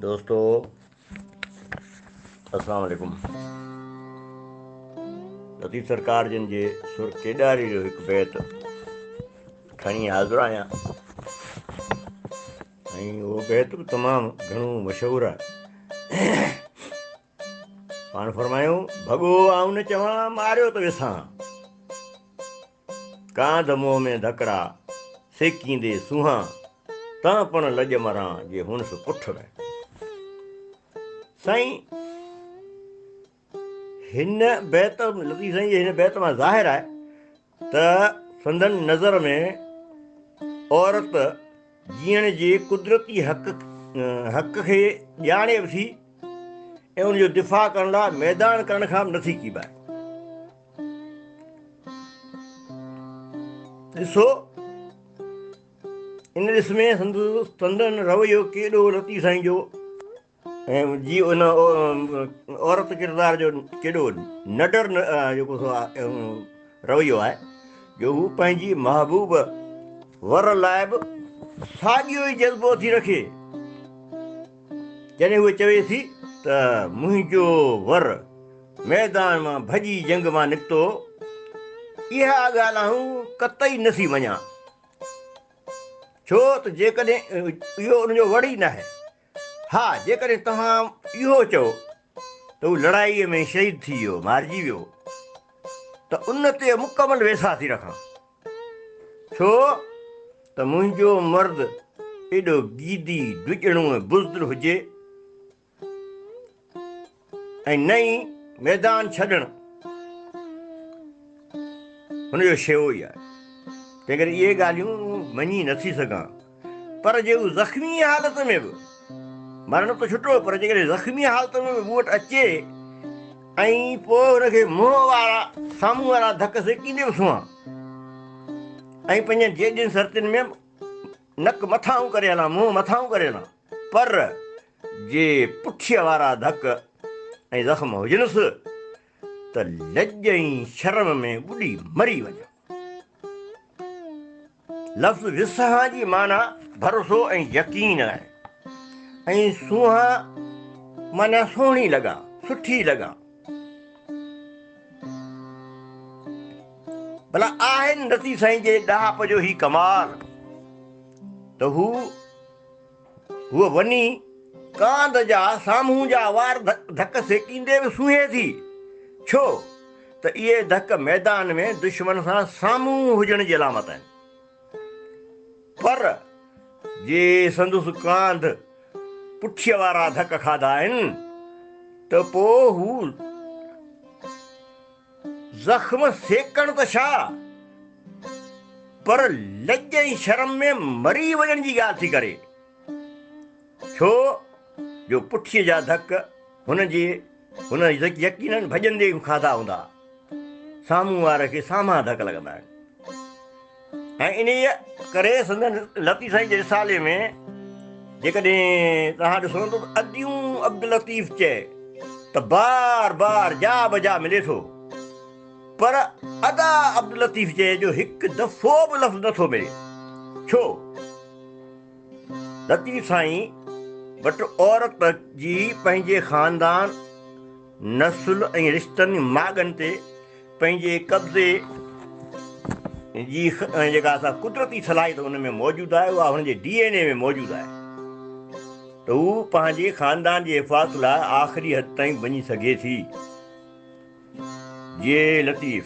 دوستو السلام عليڪم لطيف سرڪار جن جي سر ڪيڏاري جو هڪ بيت کڻي حاضر آهيان ۽ اهو بيت به تمام گهڻو مشهور آهي پاڻ فرمايو ڀڳو آئون نه چوان ماريو ته وسان ڪانڌ منهن ۾ ڌڪڙا، سيڪيندي سونهان، تان پڻ لڄ مران جي هونس پٺ ۾. سائين هن بيت لطيف سائين جي هن بيت مان ظاهر آهي ته سندن نظر ۾ عورت جيئڻ جي قدرتي حق حق کي ڄاڻي به ٿي ۽ ان جو دفاع ڪرڻ لاء ميدان ڪرڻ کان به نٿي ڪيٻائي ڏسو ان ڏس ۾ سندس سندن رويو ڪيڏو رتي سائين جو ۽ جي ان عورت ڪردار جو ڪيڏو نڊر جيڪو سو رويو آهي جو هو پنهنجي محبوب ور لاء به ساڳيو ئي جذبو ٿي رکي جڏهن هوء چوي ٿي ته منهنجو ور ميدان مان ڀڄي جنگ مان نڪتو هو، اها ڳالهه آئون قطعي نه ٿي مڃان، ڇو ته جيڪڏهن اهو ان جو ور ئي ناهي، ها جيڪڏهن توهان اهو چئو ته هو لڙائيء ۾ شهيد ٿي ويو، مارجي ويو، ته ان تي مڪمل ويساهه ٿي رکان. ڇو ته منهنجو مرد ايڏو گيدي، ڊڄڻو ۽ بزدل هجي ۽ نه ئي ميدان ڇڏڻ هن جو شيوو ئي آهي، تنهنڪري اهي ڳالهيون مڃي نٿي سگهان. پر جي هو زخمي حالت ۾ به، مرڻ ته ڇٽو پر جيڪڏهن زخمي حالت ۾ به مون وٽ اچي ۽ پوء هن کي منهن وارا سامهون وارا ڌڪ سيڪيندي به سنهان ۽ پنهنجن جيڏين سرتين ۾ نڪ مٿانهون ڪري هلان، منهن مٿانهون ڪري هلان، پر جي پٺيء وارا ڌڪ ۽ زخم هجنس ته لڄ ۽ شرم ۾ ٻڏي مري وڃان. لفظ وسهان جي معنيٰ ڀروسو ۽ يقين آهي ۽ سونهان معنيٰ سهڻي لڳان، سٺي لڳان. ڀلا آهن رتي سائين جي ڏاهپ جو هي ڪمال ته هو هوء وڃي ڪانڌ جا سامهون جا وار ڌڪ سيڪيندي به سونهي ٿي، ڇو ته اهي ڌڪ ميدان ۾ دشمن سان سامهون هجڻ جي علامت آهن. پر جي سندس ڪانڌ پٺيء وارا ڌڪ کاڌا آهن ته پوء هو. زخم سيڪڻ ته ڇا پر لڄ ۽ شرم ۾ مري وڃڻ جي ڳالهه ٿي ڪري، ڇو جو پٺيء جا ڌڪ هن جي هن يقينن ڀڄندي کاڌا هوندا، سامهون واري کي سامها ڌڪ لڳندا آهن. ۽ انهيء ڪري سندن لطيف سائين جي رسالي ۾ جيڪڏهن توهان ڏسو ته اديون عبداللطيف چئي ته بار بار جا بجا ملي ٿو پر ادا عبداللطيف چئي جو هڪ دفعو به لفظ نٿو ملي ڇو لطيف سائين وٽ عورت جي پنهنجي خاندان نسل ۽ رشتن ماڳن تي پنهنجي قبضي جي جيڪا اسان قدرتي صلاحيت ان ۾ موجود آهي اها هن جي ڊي اين اي ۾ موجود آهي ته هو پنهنجي خاندان جي حفاظت لاء آخري حد تائين وڃي سگهي ٿي جي لطيف